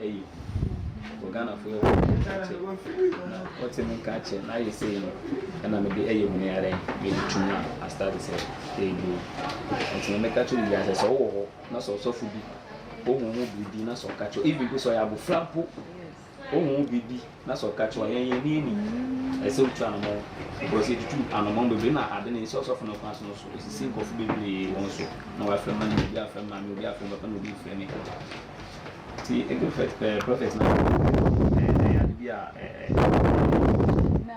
ɛyɛ hu wɔ Ghanafoɔ yɛ wɔn nka kyɛ na wɔte me nka kyɛ na ayɛ sei no ɛna mede ɛyɛ hu no yɛ dɛn mede tu mu a astate sɛ ɛreduro nti na meka kyɛ obiara sɛ sɛ wowɔ hɔ na sɛ ɔsɔfo bi wohu ho biribi na sɛ ɔka kyɛ even mpo sɛ ɔyɛ abofra mpo wohu ho biribi Na sɛ ɔka kyerɛ wɔn, Yɛn ani anni, ɛsɛ sɛ wotu anammɔn, because yɛatutu anammɔn bebree na ade no nsɛ ɔsɔfo no kwan so no so, esisi nkurɔfo bebree wɔn so, na wɔafrɛ me anum, obi afrɛ me maame, obi afrɛ me papa, na obi refrɛ me agya. Nti, Ebiofet, ɛɛ, Prɔfɛt no, ɛɛ, ɛyɛ ade bi a, ɛɛ, ɛɛ, ɛɛ, ɛɛ. Na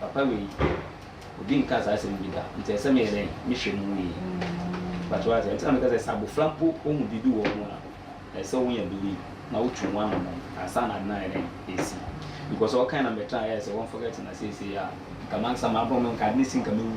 Papa wei obi nka saa asɛm bi da nti ɛsɛ meyɛ dɛn mehwɛ mu yie but wate aseɛ nti na meka sɛ sɛ abɔfra mpo ɔhu biribi wɔ wo ho a ɛsɛ sɛ wonya believe na wotu ho anammɔn ansa na ade no ayɛ dɛn ɛsi because ɔkan na mɛtra ayɛ sɛ wɔn forget na seesei a nka mankasa mabrɔ me nka ade no si nka mɛwu